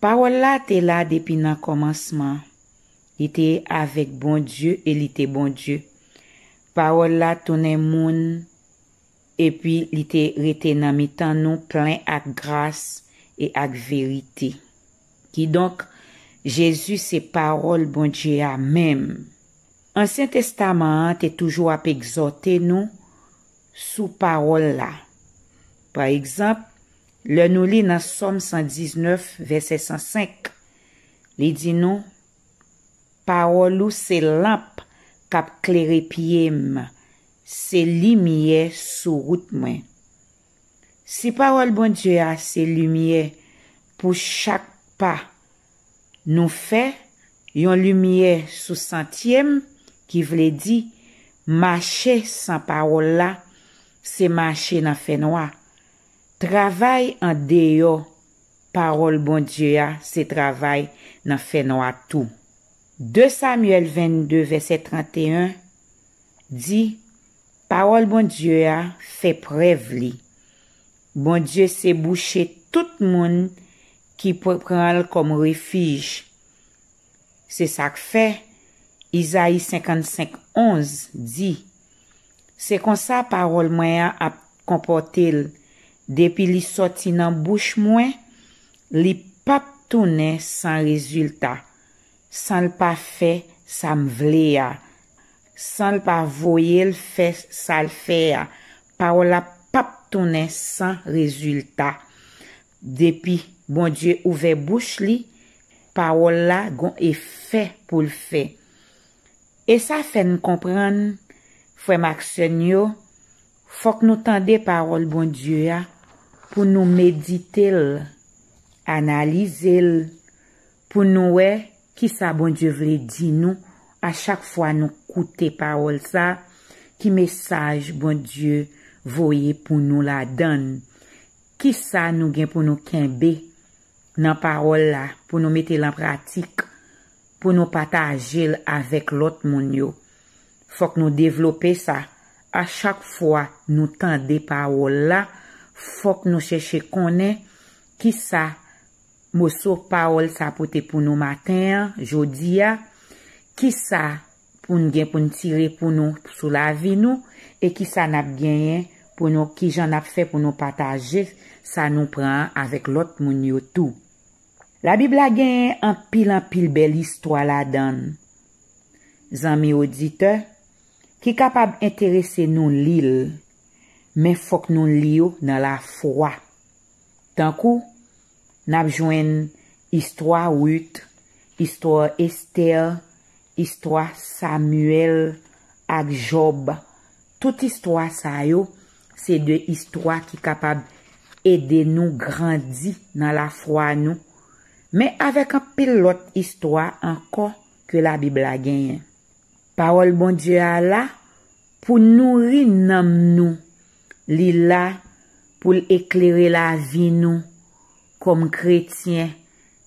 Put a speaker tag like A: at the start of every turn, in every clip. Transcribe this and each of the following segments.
A: Pawòl la te la depi nan kòmansman. Li te avèk Bondye e li te Bondye. Pawòl la tounen moun epi li te rete nan mitan nou plen ak gras e ak verite. Kidonk, Jezi se Pawòl Bondye a menm. Ansyen Testaman an te toujou ap egzòte nou sou Pawòl la. Pa egzanp, Lè nou li nan Sòm 119, vèsè 105, li di nou, Pawòl ou se lanp k ap klere pye m, se limyè sou wout mwen. Si Pawòl Bondye a se limyè pou chak pa nou fè, yon limyè sou santye m, ki vle di, mache san Pawòl la, se mache nan fènwa. Travay an deyò pawòl Bondye a se travay nan fènwa tou. 2 Samyèl 22 vèsè 31 di pawòl Bondye a fè prèv li, Bondye se bouche tout moun ki pran l kòm refij, Se sa k fè, Izayi 55, 11, di, Se konsa pawòl mwen an ap konpòte l depi li sòti nan bouch mwen, li pap tounen san rezilta, san l pa fè sa m vle a, san l pa voye l fè sa l fè a, pawòl la pap tounen san rezilta. Depi Bondye ouvè bouch li pawòl la gon efè poul fè. E sa fèn konprann frèm ak sèn yo fòk nou tande pawòl Bondye a pou nou meditel, analizel pou nou wè kisa Bondye vle di nou a chak fwa nou koute pawòl sa ki mesaj Bondye voye pou nou ladann Kisa nou gen pou nou kenbe nan pawòl la pou nou mete l an pratik, pou nou pataje l avèk lòt moun yo? Fòk nou devlope sa, a chak fwa nou tande pawòl la, fòk nou chèche konnen kisa moso pawòl sa pote pou nou maten an, jodi a, kisa pou n gen pou n tire pou nou sou lavi nou e ki sa n ap genyen pou nou ki jan n ap fè pou nou pataje sa nou pran an avèk lòt moun yo tou. Labib la genyen anpil anpil bèl istwa ladan l zanmi oditè ki kapab enterese nou li l men fòk nou li yo nan lafwa. Tankou, n ap jwenn istwa Rut, istwa Estè, istwa Samyèl ak Jòb. Tout istwa sa yo se de istwa ki kapab ede nou grandi nan lafwa nou, men avèk anpil lòt istwa ankò ke Labib la genyen. Pawòl Bondye a la pou nouri nanm nou Li la pou l eklere lavi nou kòm kretyen.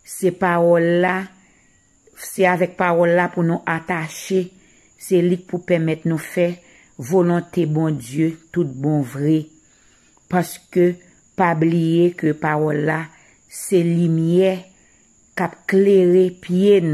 A: Se pawòl la, se avèk pawòl la pou nou atache, se li k pou pèmèt nou fè volonte Bondye tout bon vre. Paske pa bliye ke pawòl la se limyè k ap klere pye n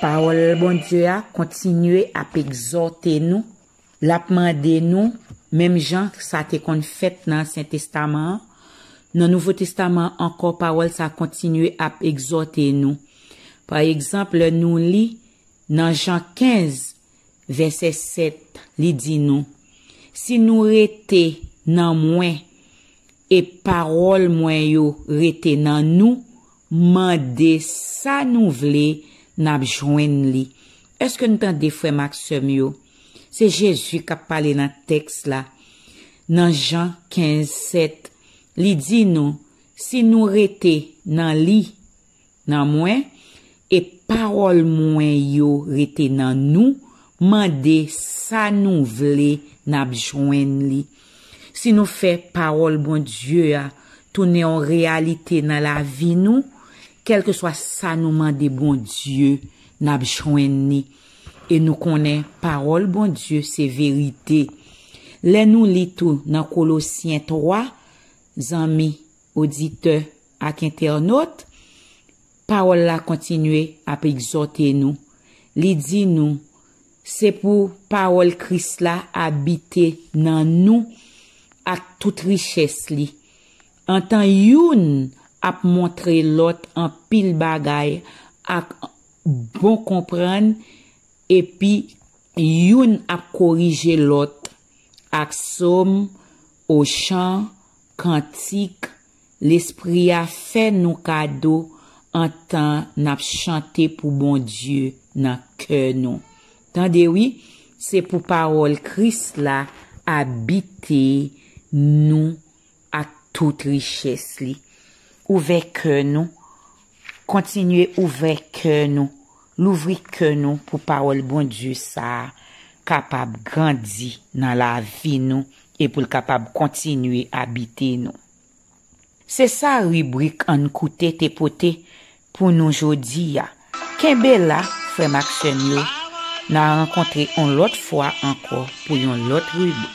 A: Pawòl Bondye a kontinye ap egzòte nou, l ap mande nou, menm jan sa te konn fèt nan Ansyen Testaman an, nan Nouvo Testaman an ankò pawòl sa a kontinye ap egzòte nou. Pa egzanp, lè nou li nan Jan 15, Vèsè 7, li di nou, Si nou rete nan mwen, e pawòl mwen yo rete nan nou, mande sa nou vle, n ap jwenn li. Èske n tande, frè m ak sè m yo? Se Jezi k ap pale nan tèks la. Nan Jan 15, 7, li di nou, Si nou rete nan li, Nan mwen, e pawòl mwen yo rete nan nou, mande sa nou vle n ap jwenn li. Si nou fè pawòl Bondye a tounen yon reyalite nan lavi nou, kèlkeswa sa nou mande Bondye, n ap jwenn ni. E nou konnen pawòl Bondye se verite. Lè nou li tou nan Kolosyen 3, Zanmi, Oditè ak entènot, Pawòl la kontinye ap egzòte nou, li di nou, Se pou pawòl Kris la abite nan nou ak tout richès li, antan youn ap montre lòt anpil bagay ak bon konprann epi youn ap korije lòt ak som o chan Kantik, Lespri a fè nou kado antan n ap chante pou Bondye nan kè nou. Tande wi, se pou pawòl Kris la abite nou ak tout richès li. Ouvè kè nou, kontinye ouvè kè nou Louvri kè nou pou pawòl Bondye sa a kapab grandi nan lavi nou e pou l kapab kontinye abite nou. Se sa ribrik Ann Koute te pote pou nou jodi a. Kenbe la, frè m ak sè m yo, n a rankontre on lòt fwa ankò pou yon lòt ribrik.